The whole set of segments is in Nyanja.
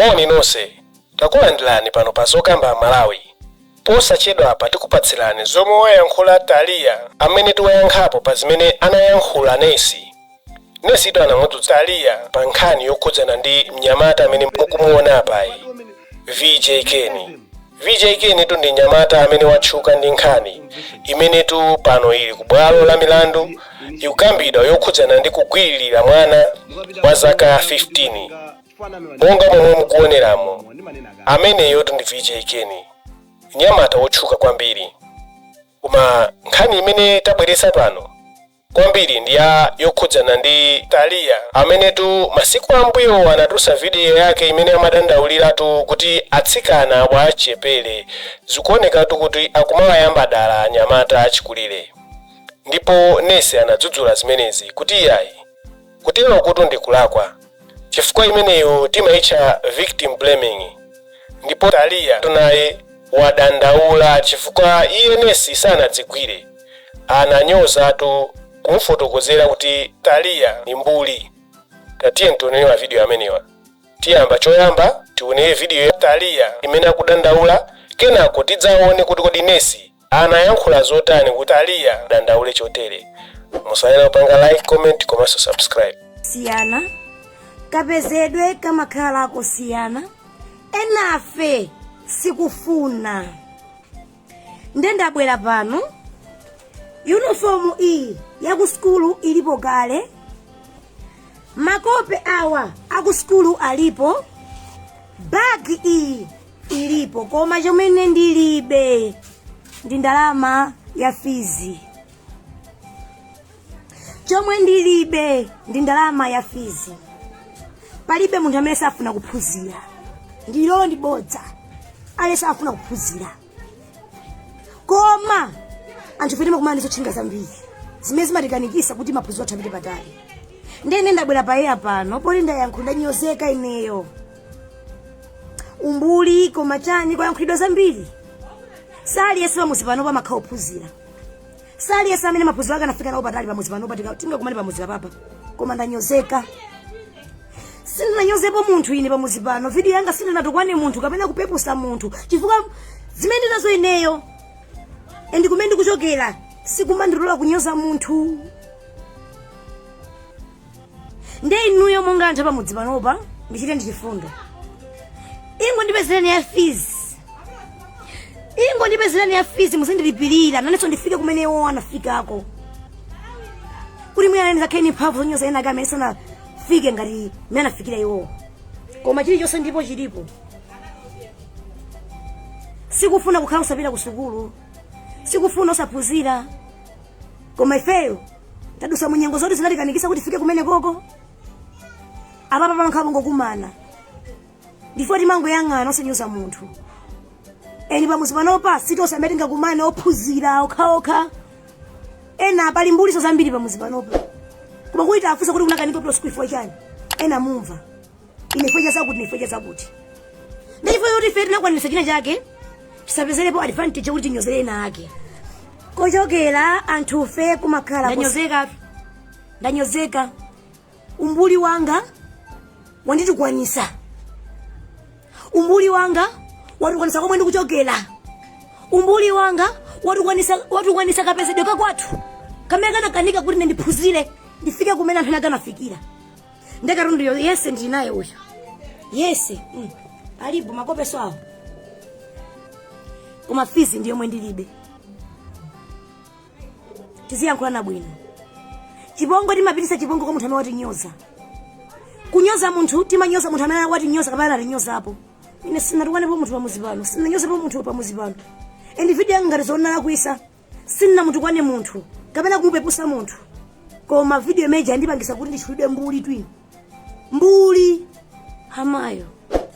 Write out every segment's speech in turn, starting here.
Moni nonse, takulandirani pano pa Zokamba Amalawi. Posachedwapa tikupatsirani zomwe wayankhula Taliya amene tiwayankhapo pa zimene anayankhula Nesi. Nesitu anamudzudzula Taliya pa nkhani yokhudzana ndi mnyamata amene mukumuona apayi, VJ Keni. VJ Kenitu ndi nyamata amene watchuka ndi nkhani imenetu pano ili ku bwalo la milandu ikukambidwa yokhudzana ndi kugwiririra mwana wa zaka 15 monga momwe mukuoneramu ameneyotu ndi VJ Keni nyamata wotchuka kwambiri koma nkhani imene tabweretsa pano kwambiri ndi ya yokhudzana ndi Taliya amenetu masiku ambuyowo anatulutsa vidiyo yake imene amadandauliratu kuti atsikana achichepere zikuonekatu kuti akumawayamba dala anyamata achikulire ndipo nesi anadzudzula zimenezi kuti iyayi Kuterokotu ndi kulakwa chifukwa imeneyo timaitcha victim blaming ndipo Taliyatu naye wadandaula chifukwa iye nesi sanadzigwire. Ananyozatu kumufotokozera kuti Taliya ndi mbuli. Tatiyeni tionere mavidiyo amenewa. Tiyambe choyamba tionere vidiyo ya Taliya imene akudandaula kenako tidzaone kuti kodi nesi Anayankhula zotani kuti Taliya adandaule chotere? Musaiwale kupanga like, comment komanso subscribe. siyana kapezedwe kamakhala kosiyana enafe sikufuna nde ndabwera pano yunifomu iyi yaku sukulu ilipo kale makope awa aku sukulu alipo bagi iyi ilipo koma chomwe ine ndilibe ndi ndalama ya fizi chomwe ndilibe ndi ndalama ya fizi palibe munthu amene safuna kuphunzira ndilo ndi bodza palibe safuna kuphunzira koma anthu fe timakumana ndi zotchinga zambiri zimene zimatikanikisa kuti maphunziro athu apite patali ndene ndabwera pa eya pano poti ndayankhula ndanyozeka ineyo umbuli koma chani kwayankhulidwa zambiri si aliyense pamuzi panopa amakhala ophunzira si aliyense amene maphunziro ake anafika nawo patali pamuzi panopa tika- tingakumane pamuzi panopa koma ndanyozeka sindinanyozepo munthu ine pamuzi pano video yanga sindinatukwane munthu kapena kupepusa munthu chifukwa zimene ndinazo ineyo and kumene ndikuchokera sikumandilola kunyoza munthu nde inuyo monga anthu apamudzi panopa ndichite ndi chifundo ingo ndipezereni ya fees ingo ndipezereni ya fees muzindilipirira nanenso ndifike kumene iwo anafikako kuti mwina nane ndizakhale ndi mphamvu zonyoza ena ake amene sanafike ngati mene anafikira iwowo koma chilichonse ndipo chilipo sikufuna kukhala osapita ku sukulu sikufuna osaphunzira koma ifeyo tadusa mu nyengo zoti zinatikanikisa kuti tifike kumeneko apapa pankhapongokumana ndi ife kutimangoyang'ana osanyoza munthu eni pamuzi panopa sitonse amene tingakumane ophunzira okhaokha ena pali mbulinso zambiri pamuzi panopa koma kuti atafunsa kuti unakanika ku school chifukwa chani ena mumva ine chifukwa cha zakuti ine chifukwa cha zakuti chifukwa choti ife tinakwanisa china chake tisapezerepo advantage kuti tinyozere ena ake kochokera anthufe kumakhala kus- ndanyozeka ndanyozeka umbuli wanga wanditukwanisa umbuli wanga watukwanisa komwe ndikuchokera umbuli wanga watukwanisa watukwanisa kapezedwe kakwathu kamene kanakanika kuti ine ndiphunzire ndifike kumene anthu ena anafikira nde katunduyo yese ndili naye uyu yese mm. alipo makopeso awo koma fizi ndi yomwe ndilibe tiziyankhulana bwino chipongwe timapitisa chipongwe kwa munthu amene watinyoza kunyoza munthu timanyoza munthu amene watinyoza kapena anatinyozapo ine sinatukwanepo munthu pamuzi pano sinanyozapo munthu pamuzi pano and video yanga ngati zoonana kuisa sindinamutukwane munthu kapena kumupepusa munthu koma video imene ija yandipangisa kuti nditchulidwe mbuli twini mbuli amayo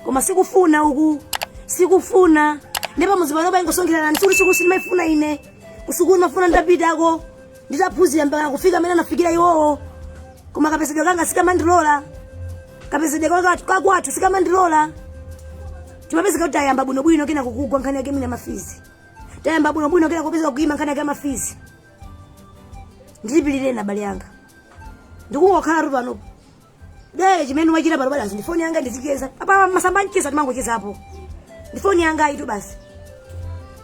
koma sikufuna uku sikufuna ndipo mudzi panopa ingosonkheranani sikuti sikuti sindimaifuna ine kusukulu mafuna ndapitako nditaphunzira mpaka kufika mmene anafikira iwowo koma kapezedwe kanga sikamandilola kapezedwe kaka- kakwathu sikamandilola timapezeka kuti tayamba bwinobwino kena kugwa nkhani yake ya mafizi tayamba bwino bwino kena kupeza kuima nkhani ya mafizi ndilipilireni abale anga ndikungokhala tu panopo nde chimene wachita pano basi ndifoni yanga ndizicheza pa masamba a mchezo timangocheza apo ndifoni yanga itu basi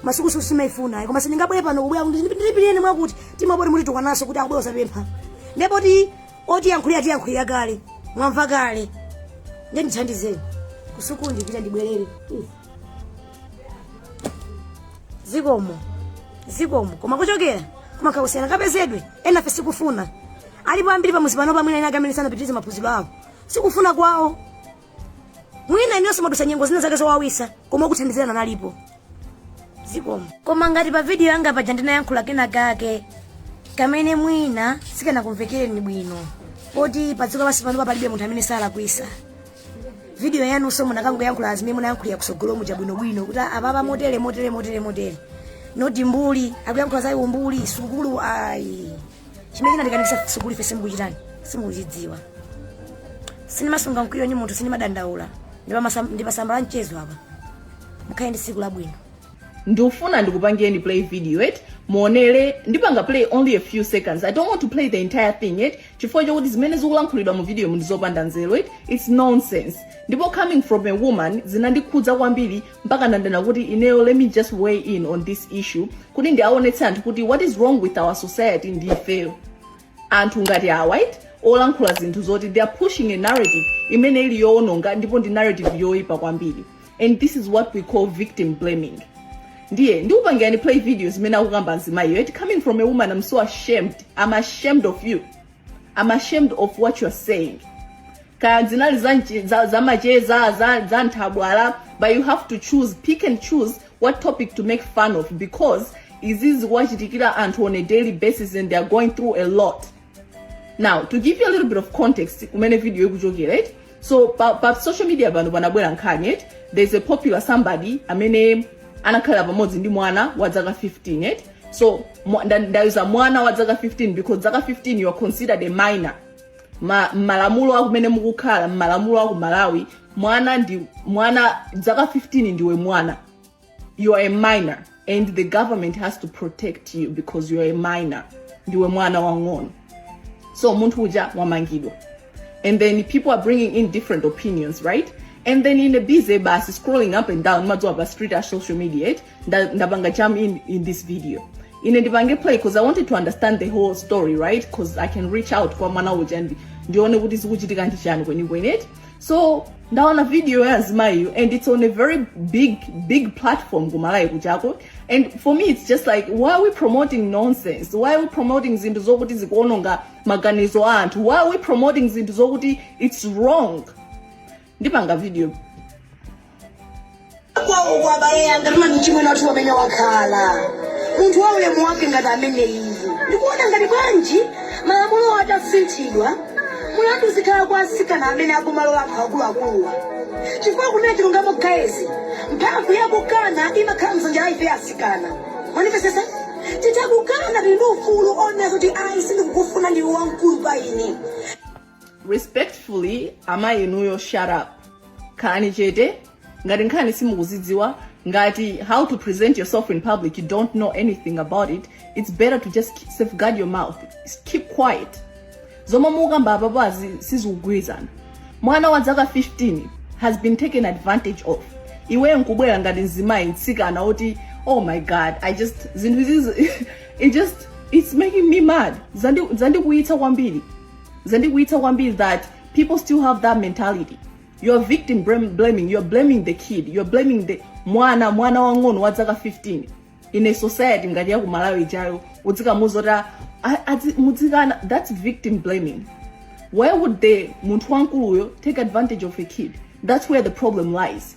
masukulu sikuti simaifuna ayi koma sindingabwere pano kubwera kuti ndilipilireni mwakuti timabwere mutitukwanaso kuti akubwera kuzapempha nde poti otiyankhulira atiyankhulira kale mwamva kale nde ndithandizeni kusukulu ndipita ndibwerere Mm. zikomo zikomo koma kuchokera kumakhala kusiyana kapezedwe enafe si kufuna alipo ambiri pamudzi pano pamwina ena amene sanapitirize maphunziro awo si kufuna kwawo mwina inunso mwadutsa nyengo zina zake zowawitsa koma okuthandizirani analipo zikomo koma ngati pa vidiyo yanga paja ndinayankhula kena kake kamene mwina sikanakumvekereni bwino poti padziko lapansi pano palibe munthu amene salakwitsa video yanunso munakangoyankhula zimene munayankhulira kutsogolomuja bwinobwino kuti apapa motere motere motere motere noti mbuli akuyankhula za umbuli sukulu ayi chimene chinatikanisa sukulu ife simukuchitani simukuchidziwa sinimasunga mkwiyo ni munthu sinimadandaula ndipatse mpata mchezo apa mukhale ndi tsiku labwino ndikufuna ndikupangeni play video it muonere ndipanga play only a few seconds i don't want to play the entire thing it chifukwa chokuti zimene zikulankhulidwa mu videomu ndi zopanda nzeru it it's nonsense ndipo coming from a woman zinandikhudza kwambiri mpaka ndanena kuti ineyo let me just weigh in on this issue kuti ndiaonetse anthu kuti what is wrong with our society ndi ifeyo anthu ngati awa eti olankhula zinthu zoti they are pushing a narrative imene ili yoononga ndipo ndi narrative yoipa kwambiri and this is what we call victim blaming ndiye ndikupangirani play video zimene akukamba mzimayiyo eti coming from a woman i'm so ashamed i'm ashamed of you i'm ashamed of what you're saying kaya zinali za nchi- za- za macheza za, za nthabwala but you have to choose pick and choose what topic to make fun of because izi zikuwachitikira anthu on a daily basis and they are going through a lot now to give you a little bit of context kumene video ikuchokera right so pa, pa social media pano panabwera nkhani right there's a popular somebody amene anakhalira pamodzi ndi mwana wa dzaka 15 right so mwa- nda- ndayuza mwana wa dzaka 15 because dzaka 15 you are considered a minor Ma- malamulo akumene mukukhala malamulo aku malawi mwana ndi mwana dzaka 15 ndiwe mwana you are a minor and the government has to protect you because you are a minor ndiwe mwana wang'ono so munthu uja wamangidwa and then people are bringing in different opinions right and then ine busy basi scrolling up and down mmadziwa pa street a social media eti nda- ndapanga bump in, in this video ine ndipange play because i wanted to understand the whole story right because i can reach out kwa mwana uja ndi ndione kuti zikuchitika ndi chani kwenikweni eti so ndaona video ya azimayiyo and it's on a very big big platform kuMalawi kunoko and for me it's just like why are we promoting nonsense why are we promoting zinthu zokuti zikuononga maganizo a anthu why are we promoting zinthu zokuti it's wrong ndipanga video kwawo kwa abale yanga tili ndi achimwene oti amene akhala munthu wa ulemu wake ngati amene iye ndikuona ngati bwanji malamulo atasinthidwa mulandu uzikhala kwa asikana amene akumalowa anthu akuluakuluwa chifukwa kunena chilungamo guys mphamvu yakukana imakhala m'manja mwa ife asikana mwandimvetsetsa titha kukana tili ndi ufulu onena zoti ayi sindikukufuna ndiwe wamkulu pa ine respectfully amayi inuyo shut up khalani chete ngati nkhani simukuidziwa ngati how to present yourself in public you don't know anything about it it's better to just keep- safeguard your mouth keep quiet zomwe mukukamba apapazi sizikugwirizana mwana wa zaka 15 has been taken advantage of iwe nkubwera ngati mzimayi mtsikana oti oh my god i just zinthu izizi it just it's making me mad Zandi- zandikwiyitsa kwambiri zandikwiyitsa kwambiri that people still have that mentality you're victim blam- blaming you're blaming the kid you're blaming the mwana mwana wang'ono wa dzaka 15 in a society ngati yaku malawi ijayo udzikamuuza kuti "Ah, adzi- mudzikana that's victim blaming why would the munthu wankuluyo take advantage of a kid that's where the problem lies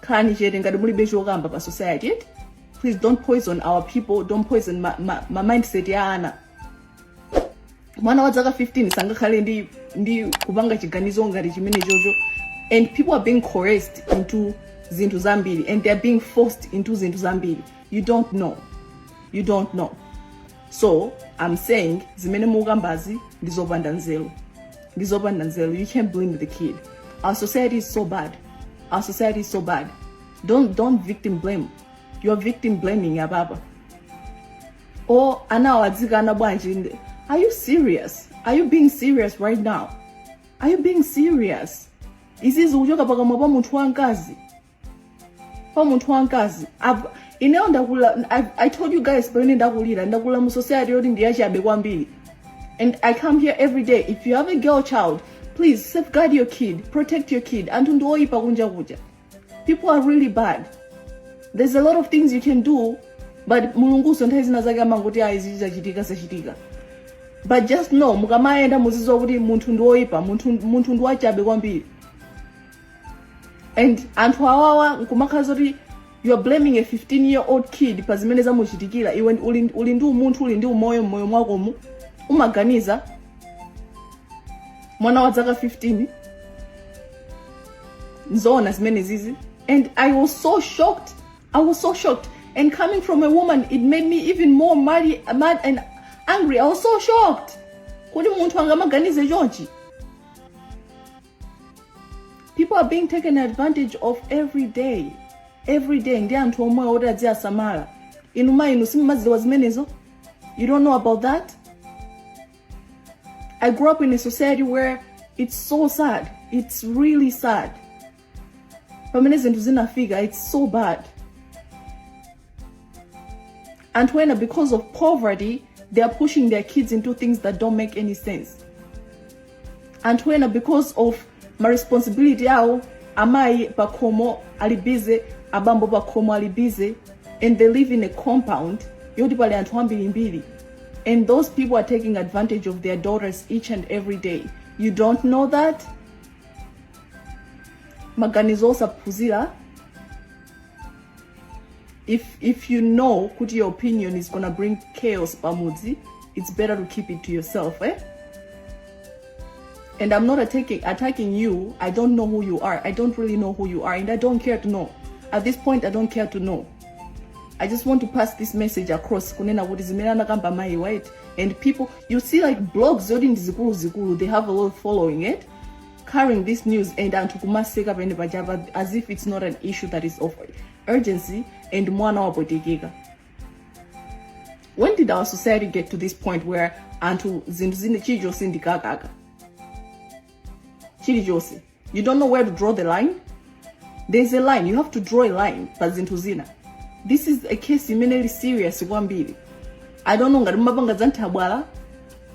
khalani chete ngati mulibe chokamba pa society please don't poison our people don't poison ma, ma, ma mindset ya ana mwana wa dzaka 15 sangakhale ndi ndi kupanga chiganizo ngati chimene chocho and people are being coerced into zinthu zambiri and they are being forced into zinthu zambiri you don't know you don't know so i'm saying zimene mukukambazi ndi zopanda nzeru ndi zopanda nzeru you can't blame the kid our society is so bad our society is so bad don't, don't victim blame you're victim blaming apapa oh anawo adzikana bwanji ndi- are you serious are you being serious right now are you being serious izizi kuchoka pakamwa pa munthu wamkazi pa munthu wamkazi Ab- ineyo ndakula I, i told you guys pamene ndakulira ndakula mu society yoti ndiyachabe kwambiri and i come here every day if you have a girl child please safeguard your kid protect your kid anthu ndi oyipa kunja kuja people are really bad there's a lot of things you can do but mulunguso nthawi zina zake amangoti ayi izi zachitika zachitika but just know mukamayenda muzidziwa kuti munthu ndi oyipa munthu, munthu ndi wachabe kwambiri and anthu awawa nkumakhala zoti you're blaming a 15 year old kid pa zimene zamuchitikira iwe uli, uli ndi umunthu uli ndi umoyo mmoyo mwakomu umaganiza mwana wa dzaka 15 nzoona zimene zizi and i was so shocked i was so shocked and coming from a woman it made me even more mad, mad and angry i was so shocked kuti munthu angamaganize chonchi people are being taken advantage of every day every day ndi anthu omwe oti adziyasamala inu ma- inu simumadziwa zimenezo you don't know about that i grew up in a society where it's so sad it's really sad pamene zinthu zinafika it's so bad anthu ena because of poverty they are pushing their kids into things that don't make any sense anthu ena because of ma responsibility awo amayi pakhomo ali busy abambo pakhomo ali busy and they live in a compound yoti pali anthu ambirimbiri and those people are taking advantage of their daughters each and every day you don't know that maganizo osaphunzira if if you know kuti your opinion is gonna bring chaos pamudzi it's better to keep it to yourself eh? and i'm not attacking, attacking you i don't know who you are i don't really know who you are and i don't care to know at this point i don't care to know I just want to pass this message across kunena kuti zimene anakamba mayi white and people you see like blogs zoti ndi zikulu zikulu they have a lot of following it eh? carrying this news and anthu kumaseka pene pachapa as if it's not an issue that is of urgency and mwana wapwetekeka when did our society get to this point where anthu zinthu zina chilichonse ndikakaka chilichonse you don't know where to draw the line there is a line you have to draw a line pa zinthu zina this is a case imene ili serious kwambiri i don't know ngati mumapanga za nthabwala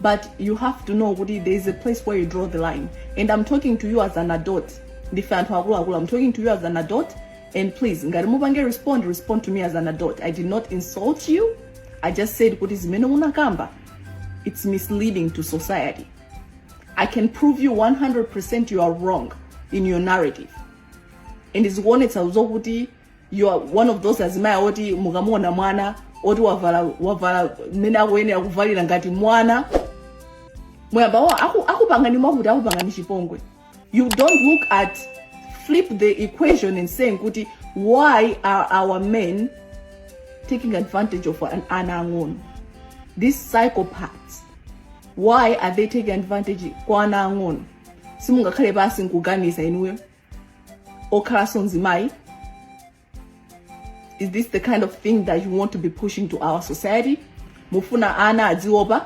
but you have to know kuti there is a place where you draw the line and i'm talking to you as an adult ndife anthu akuluakulu i'm talking to you as an adult and please ngati mupange respond respond to me as an adult i did not insult you i just said kuti zimene munakamba it's misleading to society I can prove you 100% you are wrong in your narrative. And zikuonetsa zokuti you are one of those azimayi oti mukamuona mwana oti wavala wavala mmene akuyenera kuvalira ngati mwana muyamba akupangani mwakuti akupangani chipongwe you don't look at flip the equation and saying kuti why are our men taking advantage of ana ang'ono these psychopaths why are they taking advantage kwa ana ang'ono simungakhale pansi nkuganiza inuyo okhalanso mzimayi is this the kind of thing that you want to be pushing to our society mufuna ana adziopa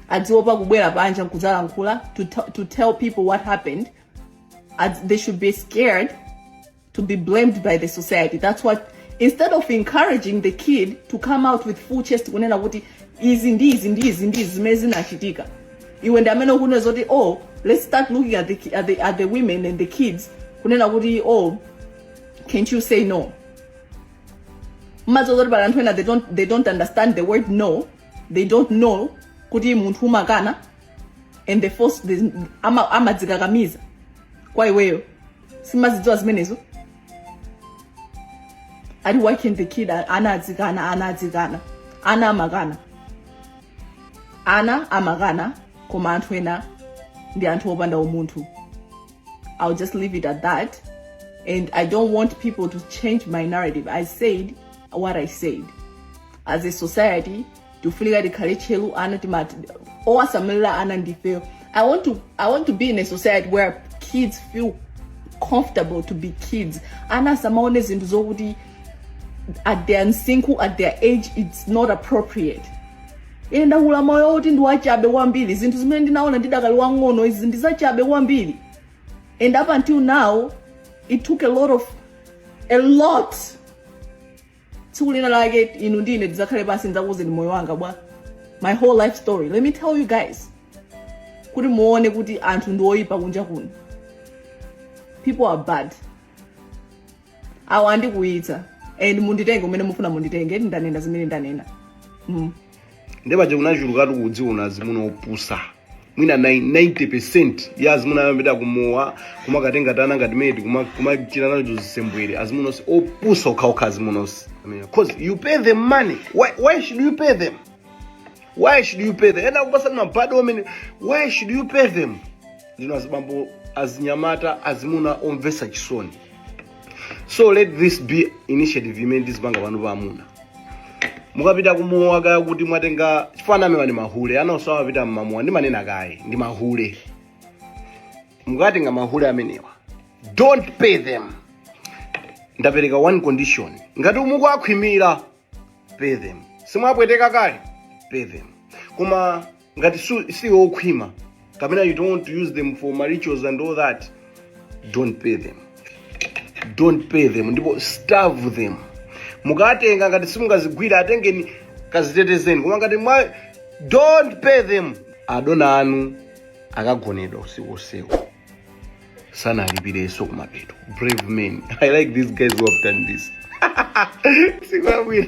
adziopa kubwera panja nkudzalankhula to, t- to tell people what happened they should be scared to be blamed by the society that's what instead of encouraging the kid to come out with full chest kunena kuti izi ndi izi ndi izi ndi izi zimene zinachitika iwe ndi amene ukunena zoti oh let's start looking at the, ki- at the, at the women and the kids kunena kuti oh can't you say no mmadziwa zokuti pali anthu ena they don't, they don't understand the word no they don't know kuti munthu amakana and they force amadzikakamiza ama amadzikakamiza kwa iweyo simazidziwa zimenezo ati why can't the kid ana adzikana ana adzikana ana amakana ana amakana koma anthu ena ndi anthu opanda umunthu i'll just leave it at that and i don't want people to change my narrative i said what i said as a society tifunika tikhale tcheru ana timati owasamalira ana ndifeyo I want, to, I want to be in a society where kids feel comfortable to be kids ana asamaone zinthu zokuti at their msinkhu at their age it's not appropriate ine ndakula moyo woti ndi wachabe kwambiri zinthu zimene ndinaona ndidakali wang'ono izi ndi zachabe kwambiri and up until now it took a lot of a lot tsiku lina lake inu ndi ine tidzakhale pansi ndidzakuuzeni za moyo wanga bwa my whole life story let me tell you guys kuti muone kuti anthu ndi oyipa kunja kuno people are bad awa andikuitsa and munditenge umene mukufuna munditenge eti ndanena zimene ndanena mm. nde paja kunachulukatu kudziwona azimuna opusa mwina 90 ya azimuna amapita kumowa kumakatenga tiana ngati mene kuma- kumachita nazo zisembwere azimuna onse opusa okhaokha azimuna onse because you pay them money why, why should you pay them why should you pay them ena kupatsa ma bad omen why should you pay them ndinu azibambo azinyamata azimuna omvesa chisoni so let this be initiative imene ndizipanga pano pa amuna mukapita kumowa kaya kuti mwatenga chifana amewa ndi mahule ana onsewa apita mmamowa ndimanena kaye ndi mahule mukatenga mahule amenewa don't pay them ndapereka one condition ngati ukuwakhwimira pay them simwapweteka kale pay them koma ngati su- si okhwima kapena you don't want to use them for ma rituals and all that don't pay them don't pay them ndipo starve them mukatenga ngati simungazigwire atengeni kazitetezeni koma ngati mwa don't pay them adona anu akagonedwa usiku usiku sanalipireso kumapeto brave men i like these guys who have done this sikwabwira